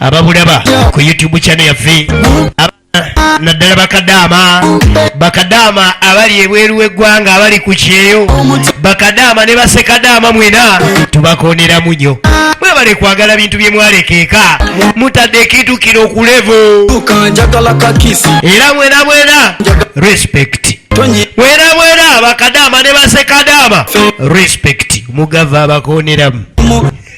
ababulaba ku youtube chano yaffe naddala bakadaama bakadaama abali ebweru w'eggwanga abali ku kyeyo bakadaama ne basekadaama mwena tubakoneramu nyo mwebale kwagala bintu bye mwalekeeka mutadde ekintu kino okulevu era mwena mwena respect mwena mwena bakadaama ne basekadaama respect mugava abakoneramu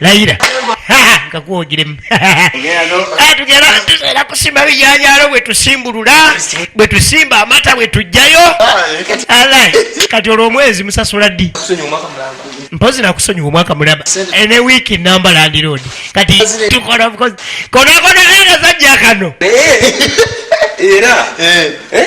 layira kakuwogiremu ah, tugera tuseera kusimba bijanjalo bwe tusimbulula bwe tusimba amata bwe tujjayo alai kati olwo omwezi musasula ddi mpozi nakusonyiwa omwaka mulaba eh, ne wiiki namba landiroad kati tukola bukozi konakona era zajja kano era eh. Eh?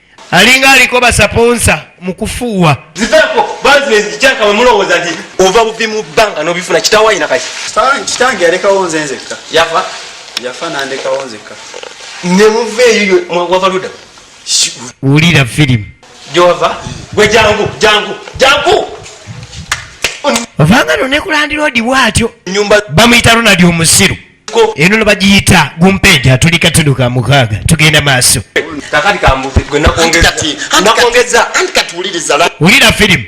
alinga aliko basaponsa mukufuuwa ziveko bazinezikyaka bwemulowooza nti ova buvi mu bbanga nobifuna kitawayina kaki kitange yalekawo nze nzekka yafa yafa nandekawo nzekka nemuva eyo wava luda wulira firimu gyova gwe jangu jangu jangu ovanga nonekulandiroodi bwatyo bamuyita ronald omusiru eno nebagiyita gumpeja tulika tuduka mukaaga tugenda maaso wulira firimu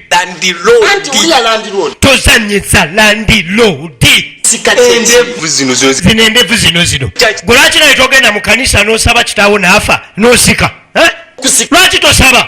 tozanyisa landilodi zino endevu zino zino gwelwaki naye togenda mu kanisa nosaba kitaawo naafa nosika lwaki tosaba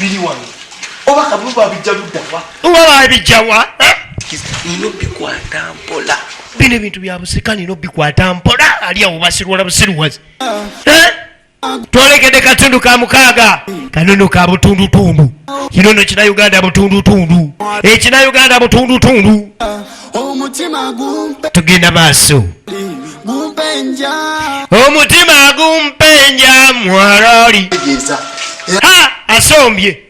biri wano oba kabulu babijja luddawa nga babijjawa eh? nina obikwata mpola bino ebintu bya busika nina obikwata mpola ali awo basirwala busiruwazi eh? twolekede katundu ka mukaaga kanono ka butundutundu kinono kina uganda butundutundu ekina eh, uganda butundutundu omutima gumpe tugenda maaso gumpenja omutima gumpenja mwalali asombye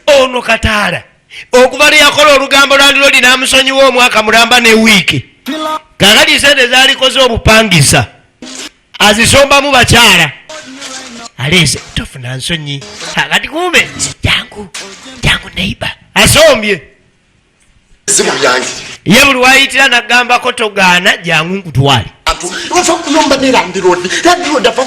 ono kataala okuva lweyakola olugambo lwandiro linamusonyiwa omwaka mulamba ne wiiki kakati sente zalikoze obupangisa azisombamu bakyala aleese tofuna nsonyi akati kumbe jangu jangu neiba asombye zimu byange ye buli wayitira nagambako togaana jangu nkutwale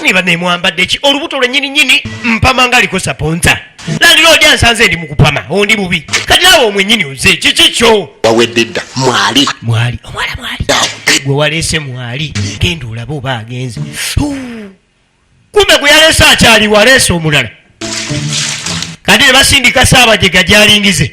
niba nemwambadde ki olubuto lwenyini nyini mpama nga aliko saponsa landiroodi ansanze ndi mukupama ondi bubi kati nawe omwenyini oze kiki kyo wawedde dda mwali mwali omwala mwali gwe waleese mwali genda olabe oba agenze kumbe gwe yaleese akyali waleese omulala kati ne basindika saabajega gyalingize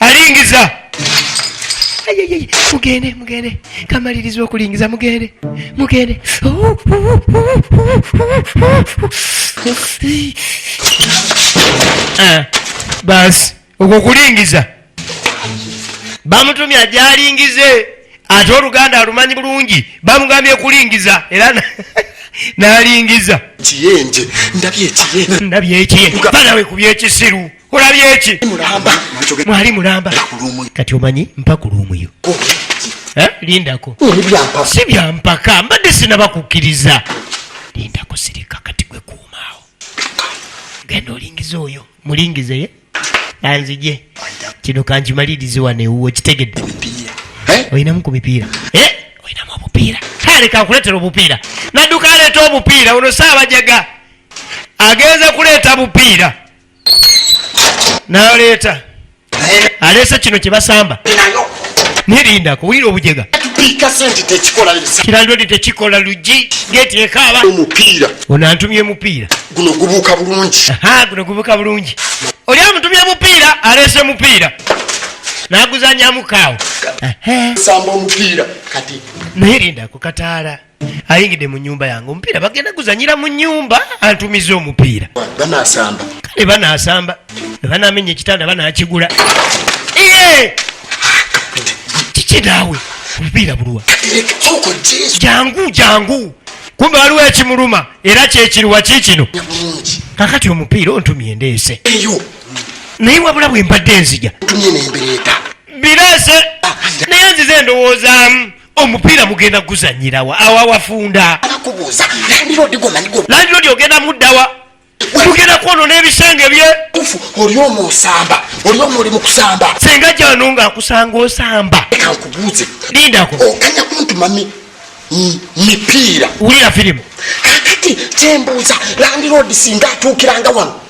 alingiza mugende mugende kamaliriza okulingiza mugende mugende eh, basi okwo kulingiza bamutumya gyalingize ate oluganda alumanyi bulungi bamugambye kulingiza era nalingiza kiyenje ndabye ekiye ndabye ekiye banawe kubyekisiru olabye ki mwali mulamba kati omanyi mpaka olwomuyo eh, lindako si byampaka mbadde sinaba kukkiriza lindako sirika kati gwe kuumaawo genda olingiza oyo mulingize anzije kino kankimalirize wano ewuwo kitegedde eh? olinamu ku mipiira eh? olinamu obupiira kale kankuleetera obupiira nadduka aleeta obupiira ono saabajaga agenze kuleeta bupiira naleeta aleese kino kyebasamba nirinda kuwulira obujega kiralodi tekikola lugi geti ekaaba ono antumye mupiira guno gubuuka bulungi guno gubuuka bulungi oli amutumye mupiira aleese mupiira naguzanyamu kaawo samba omupiira kati naye rinda kukataala ayingidde mu nyumba yange omupiira bagenda guzanyira mu nyumba antumiza omupiira banasamba kale banasamba banamenya ekitanda banakigula kiki naawe omupiira buluwa jangu jangu kumbe waliwo ekimuluma era kyekiruwa kikino kakati omupiira ontumye ndeese naye wabula bwe mbadde nzija birese ah, naye nzize ndowoozamu omupiira mugenda guzanyirawa awo awafunda landilodi ogenda muddawa mugenda kwono n'ebisenge bye oli omu osamba oli omu oli mukusamba senga jano nga akusanga osamba eka nkubuuze lindako okanya oh, kuntu mami mipiira wulira firimu kakati kyembuuza landilodi singa atuukiranga wano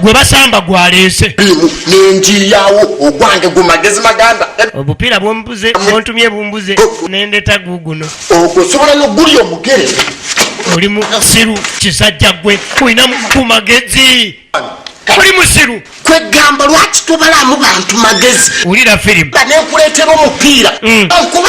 gwe basamba gwaleese nenjiyawo ogwange gu magezi maganda obupiira bwombuze bwontumye bumbuze nendeta guguno ogwo osobola noguli omugere oli musiru kisajja gwe olina ku magezi oli musiru kwegamba lwaki tobalamu bantu magezi wulira firimu banekuleetera omupiira mm. okuba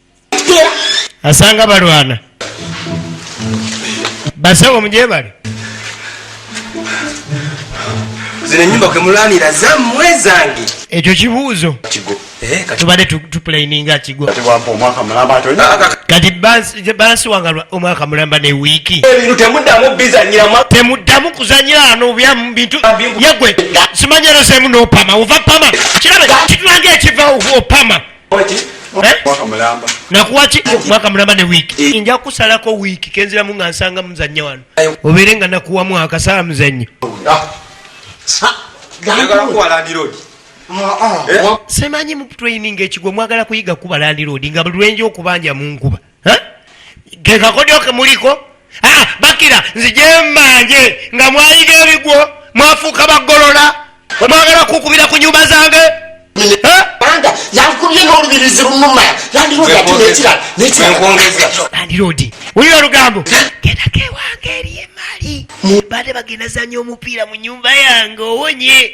asanga balwana basawo mujebale zino enyumba kwemulanira zamwe zange ekyo kibuuzo eh, tubadde tupulaininga kigo kati bansi wanga omwaka mulamba ne wiiki temuddamu kuzanyira ano byamu bintu yegwe simanyerosemu nopama ova pama kirabe kitulanga ekiva opama nakuwaki mwaka mulamba ne wiiki eh. nja kusalako wiiki kenziramu nga nsanga muzanya wano obeere nga nakuwa mwaka sala muzanya ah. semanyi mu training ekigwe mwagala kuyiga kuba landiroodi nga buli lwenja okubanja mu nkuba kekakodyo kemuliko ah, bakira nzijembanje nga mwayiga ebigwo mwafuuka bagolola omwagala kukubira ku nyumba zange banga yankubye n'olubirizi lunuma yandiroodinekiralandi wulira olugambo gendako ewange eri emali bade bagendazanya omupiira mu nyumba yange owonye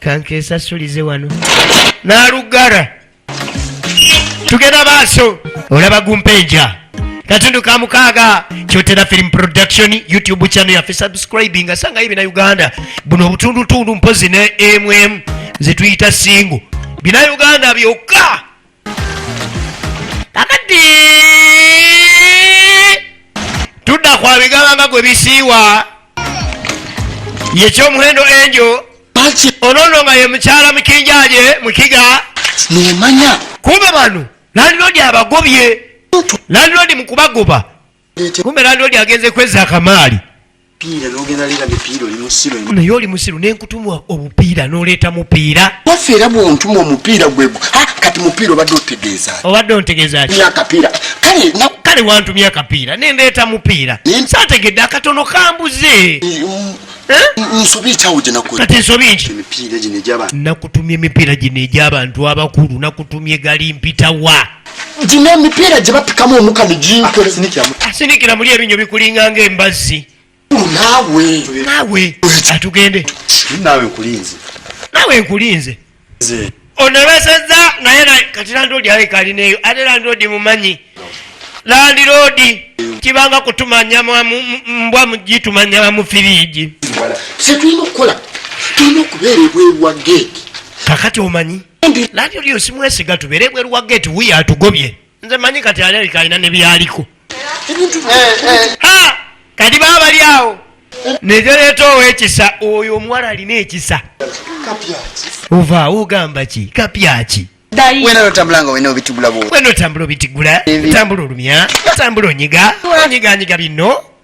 kankesasulize wano nalugara tugenda maaso olaba gumpeja katundu ka mukaaga kyotera film production youtube channel yaffe subscribing asangayo bina uganda buno obutundutundu mpozi ne mm zetuyita singo bina uganda byokka kakati tudda kwa bigaba nga gwe bisiiwa yekyomuhendo enjo onono nga ye mukyala mukinjaje mukiga nemanya kuba bano landlord abagobye landlord mukubagoba kumbe landlord agenze kweza akamaali naye oli musiru nenkutumwa obupiira noleeta mupiira waffe era bwontuma omupiira gwe kati mupiira obadde otegeeza obadde ontegeezaakapiira kale wantumya akapiira nendeeta mupiira sategedde akatono kambuze mm, nakutumya emipiira gino egy'abantu abakulu nakutumya egali mpitawa gino emipiira gye bapikamu omuka ne ginsinikira muli ebinyo bikulinga nga embazzi naawe naawe atugende naawe nkulinze naawe nkulinze onabasazza naye kati landoodi aleka alineeyo ate landoodi mumanyi landiroodi kibanga kutumanya mbwa mugitumanya bamufiriigi kyetulina okukola tulina okubeera ebweru wa geeti kakati omanyi Nabyo lyo simwesiga tubere bwe ruwa gate we atugobye. Nze manyi kati ali kalina ne byaliko. Ha! Kadi baba lyawo. Nejo leto owekisa oyo omuwala alina ekisa. Kapyaki. Uva ugamba ki? Kapyaki. Wena otambula nga wena obitugula bwo. Wena otambula obitugula. Tambula olumya. Tambula onyiga. Onyiga anyiga bino.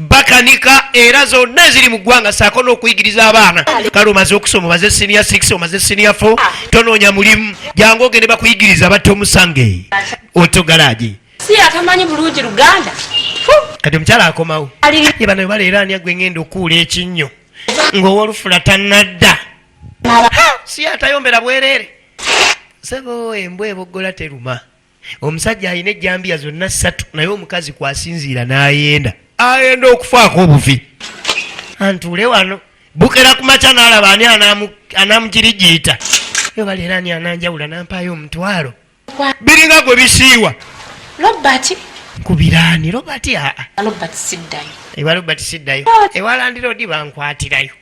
bakanika era zonna eziri mu ggwanga saako n'okuyigiriza abaana kale omaze okusoma omaze sinia 6 omaze sinia 4 tonoonya mulimu jangu ogende bakuyigiriza batta omusange oto galaagi si atamanyi bulungi luganda kati omukyala akomawo ye bano baleera ani agwe ngenda okuula ekinnyo ng'owolufula tanadda si atayombera bwereere sebo embwa eboggola teruma omusajja alina ejjambiya zonna ssatu naye omukazi kwasinziira n'ayenda ayenda okufaako obuvi antuule wano bukera ku makya n'alaba ani anamugirigiita yo baleera ani ananjawula nampaayo omutwalo biringa gwe bisiiwa robert kubiraani robert aa robert siddayo ewa robert siddayo ewalandira odi bankwatirayo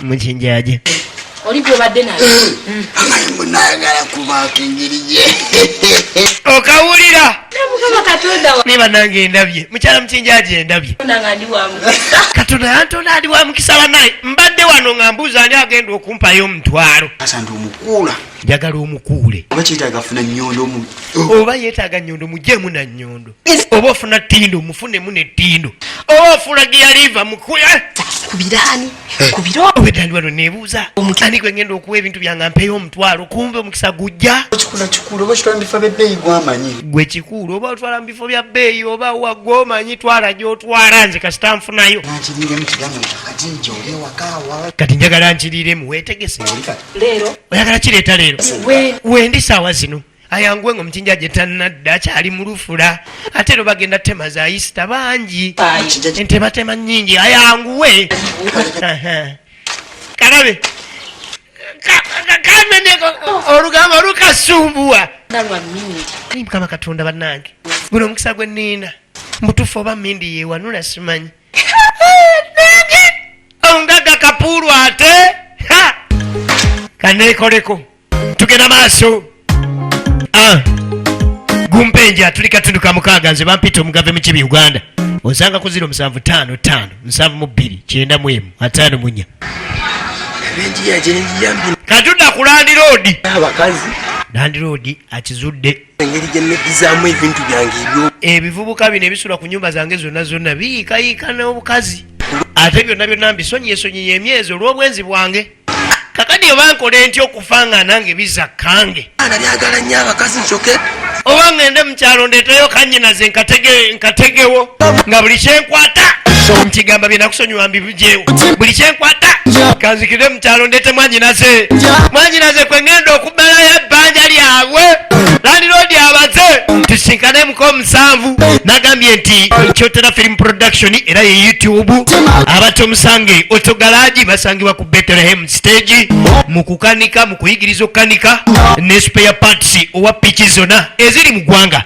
mukinjaje oli gwobadde naye hmm. amanyi munayagala kubaako engeri gye okawulira naye banange endabye mukyala mukinjaji endabye katonda yantonda ali wa mukisa banaye mbadde wano nga mbuuza ani agenda okumpayo omutwalo njagala omukuule oba yetaaga nyondo mujemu na nyondo oba ofuna tindo mufunemu ne tindo oba ofula giyaliva mukuya eh? kubirani eh. kubiraobedaliwano nebuuza ani gwe ngenda okuwa ebintu byanga mpeyo omutwalo kumbe omukisa gujja gwe kikuulu oba otwala mu bifo bya bbeeyi oba wagwe omanyi twala gyotwala nze kasita nfunayo kati njagala nkiriiremu wetegese oyagala kireeta leero wendi saawa zino ayanguwe nga omukinja gye tannadda akyali mu lufula ate ero bagenda tema za yisita bangi entematema nyingi ayanguwe kalabe kaneneko olugambo lukasumbuwa mukama katonda bannange guno omukisa gwe nina mutufu oba mindi yewanula simanyi ongaga kapuulu ate kanekoleko tugenda maaso ah. gumpenja tuli katundu ka mukaaga nze bampita omugave mukibi uganda onsanga ku ziro musanvu taano taano nsanvu mu bbiri kyenda mu emu ataano munya katundu akulandi roodi landi roodi akizudde ebivubuka bino ebisula ku nyumba zange zonna zonna biyiikayiika n'obukazi ate byonna byonna mbisonyiye sonyiye emyezi olw'obwenzi bwange kakati oba nkole ntya okufa nga nange biza kange ana byagala nnyo abakazi ncoke oba ngende mukyalo ndeteyo kanyinaze nkategewo nga buli kyenkwata nkigamba byenakusonyiwa mbijewo buli kyenkwata kanzikire mukyalo ndete mwanyinaze mwanyinaze kwengenda oku bala ya bbanja lyabwe landiroodi abaze tusinkanemuko omusanvu nagambye nti kyotera film production era ye youtube abatta omusange otogalaji basangibwa ku betlehem stage mu kukanika mu kuyigiriza okukanika ne spare parts owa piki zona eziri mu ggwanga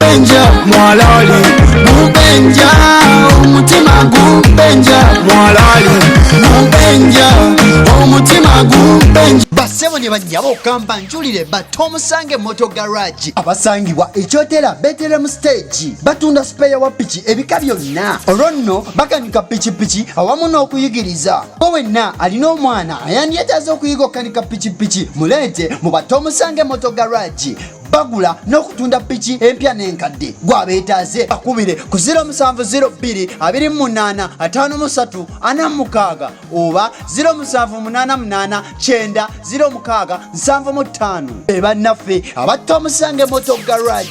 Benja mwalali mubenja omutima gubenja mwalali mubenja omutima gubenja basebo ne banyabo okamba njulire batta omusange moto garage abasangibwa ekyotera beteremu stage batunda sipeya wa piki ebika byonna olwo nno bakanika pikipiki awamu n'okuyigiriza o wenna alina omwana ayandyetaaza okuyiga okukanika pikipiki muleete mu batta omusange moto garage bagula n'okutunda piki empya n'enkadde gwabeetaaze bakubire ku 0702285346 oba 07889065 bebannaffe abatta omusange moto garage